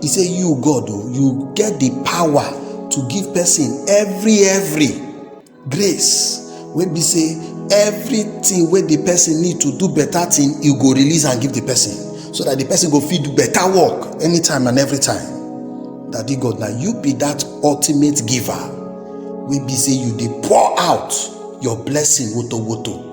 He say, You, God, oh, you get the power to give person every, every grace. Wey be say everything wey the person need to do better thing, you go release and give the person so that the person go fit do better work anytime and every time. Daddy God, now you be that ultimate giver. Wey be say you dey pour out your blessing woto woto.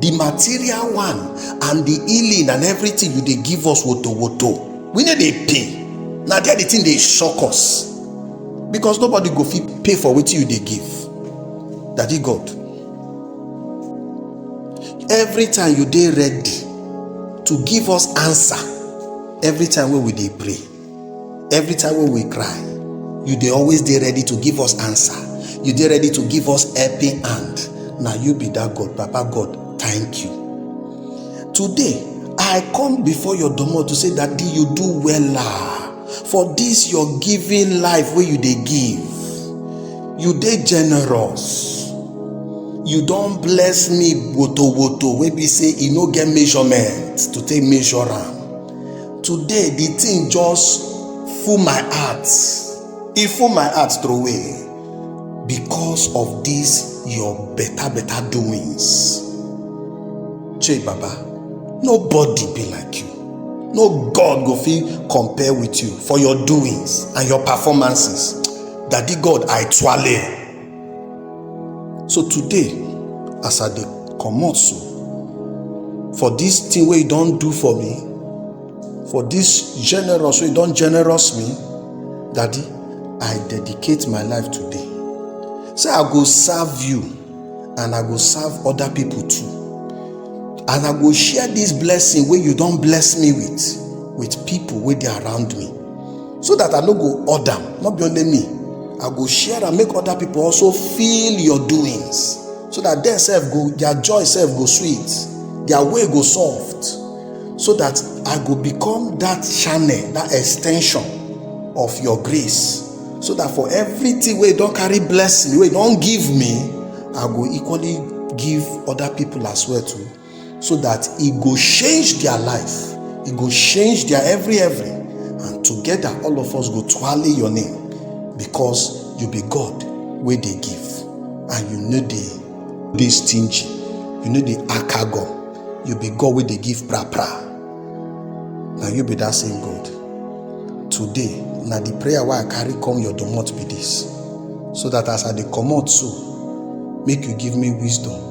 the material one and the healing and everything you dey give us woto woto we no dey pay na there the thing dey shock us because nobody go fit pay for wetin you dey give daddy god every time you dey ready to give us answer every time wey we dey pray every time wey we cry you dey always dey ready to give us answer you dey ready to give us helping hand na you be that god papa god thank you today i come before your domot to say daddy you do wella for this your giving life wey you dey give you dey generous you don bless me woto woto wey be say e no get measurement to take measure am today the thing just full my heart e full my heart throwaway because of this your better better doings chey baba nobody be like you no god go fit compare with you for your doings and your performances daddy god i twale. so today as i dey comot so for this thing wey you don do for me for this generous wey you don generous me daddy i dedicate my life today say i go serve you and i go serve other people too and i go share this blessing wey you don bless me with with people wey dey around me so that i no go order am not be only me i go share am make other people also feel your doings so that dem sef go their joy sef go sweet their way go soft so that i go become that channel that extension of your grace so that for everything wey don carry bless me wey don give me i go equally give other people as well too so that e go change their life e go change their every every and together all of us go twale your name because you be god wey dey give and you no dey dey stingy you no dey akago you be god wey dey give pra pra na you be that same god today na the prayer wey i carry come your domot be this so that as i dey comot so make you give me wisdom